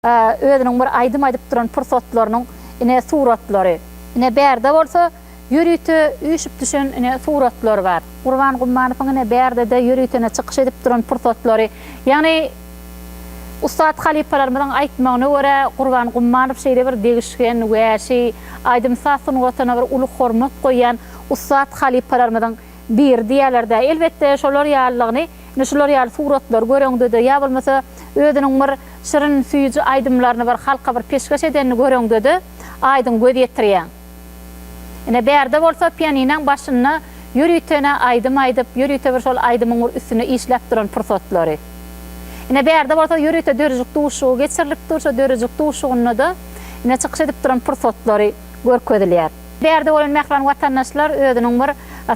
Özüniň bir aýdym aýdyp duran pursatlarynyň ine suratlary. Ine bärde bolsa ýörite üýşüp düşen ine suratlar bar. Gurban Gummanowyň ine bärdede ýörite ine çykyş edip duran pursatlary. Ýagny ussat halypalarymyzyň aýtmagyna görä Gurban Gummanow şeýle bir degişgen, wäşi, aýdym-saz sungatyna bir uly hormat goýýan ussat halypalarymyzyň Bir, diýýärler-dä, elbetde, şolar ýalylygyny, indi şular ýaly suratlary göreňde-de, ýa bolmasa özüniň bir şirin, süýji aýdymlaryny bir halka bir peşgeş edenini göreňde-de, aýdyň göz ýetirýäň. Ine, bärde bolsa pianinaň başynda ýörütene aýdym aýdyp, ýörüte bir şol aýdymyň bir üstünde işläp duran pursatlary. Ine, bärde bolsa ýörüte dörejik duşuşygy geçirilip dur, şo dörejik duşuşygynda-da, ine, çykyş edip duran pursatlary görkezilýär. Därdi bolan mähriban watandaşlar özüniň bir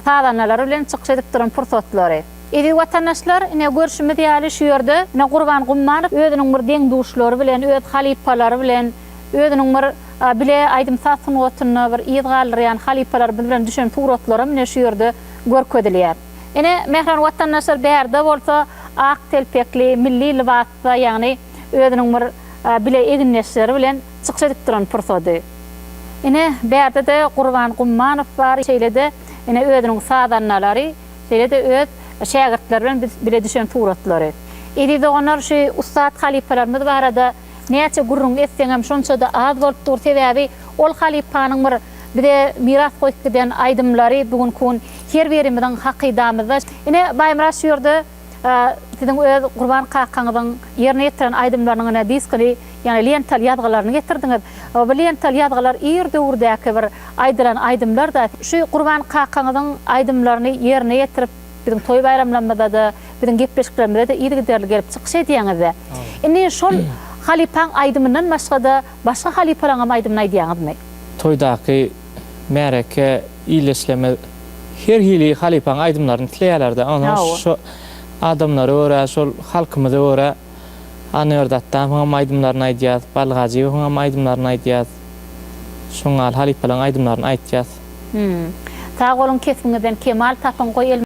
sazandalary bilen çykyş edip duran pursatlary. Eziz watandaşlar ine görşümiz ýaly şu ýerde ine Gurban Gummanow özüniň bir deň-duşlary bilen, öz halypalary bilen, özüniň bir bile aýdym-saz sungatynda bir yz galdyrýan halypalarymyz bilen düşen suratlaram ine şu ýerde görkezilýär. Ine mähriban watandaşlar bärde bolsa ak telpekli milli lybas, Hytaý ýagny özüniň bir bile egindeşleri bilen çykyş edip duran pursady. Ine, bärde-de Gurban Gummanow bar, şeýle-de ine özüniň sazandalary, şeýle-de öz şägirtleri bilen bile düşen suratlary. Eziz doganlar, şu ussat halypalarymyz barada näçe gürrüň etseňem şonça-da az bolup dur, sebäbi ol halypanyň bir bize miras goýup giden aýdymlary bu günki gün her birimiziň hakydamyzda. Ine, Baýmyrat şu ýerde. A siziň öz Gurban kakaňyzyň ýerine ýetiren aýdymlarynyň ine diskini, ýagny lentaly ýazgylaryny getirdiňiz. Bu lentaly ýazgylar ir döwürdäki bir aýdylan aýdymlar-da. Şu Gurban kakaňyzyň aýdymlaryny ýerine ýetirip, biziň toý-baýramlarymyzda-da, biziň gepleşiklerimizde-de yzygiderli gelip çykyş edýäňiz-de. Indi şol halypaň aýdymyndan başga-da, başga halypalaryň hem aýdymyny aýdýaňyzmy? Toýdaky märeke illeşleme her hili halypaň aýdymlaryny isleýälerdi onsoň şo adamlara görä şol halkymyza görä Annebert Atdamowyňam aýdymlaryny aýdýas Bally Gajyýewiňem aýdymlaryny aýdýas şoňňal halypalaň aýdymlaryny aýtýas. Hümm. Sag boluň kesbiňizden kemal tapyň goý el.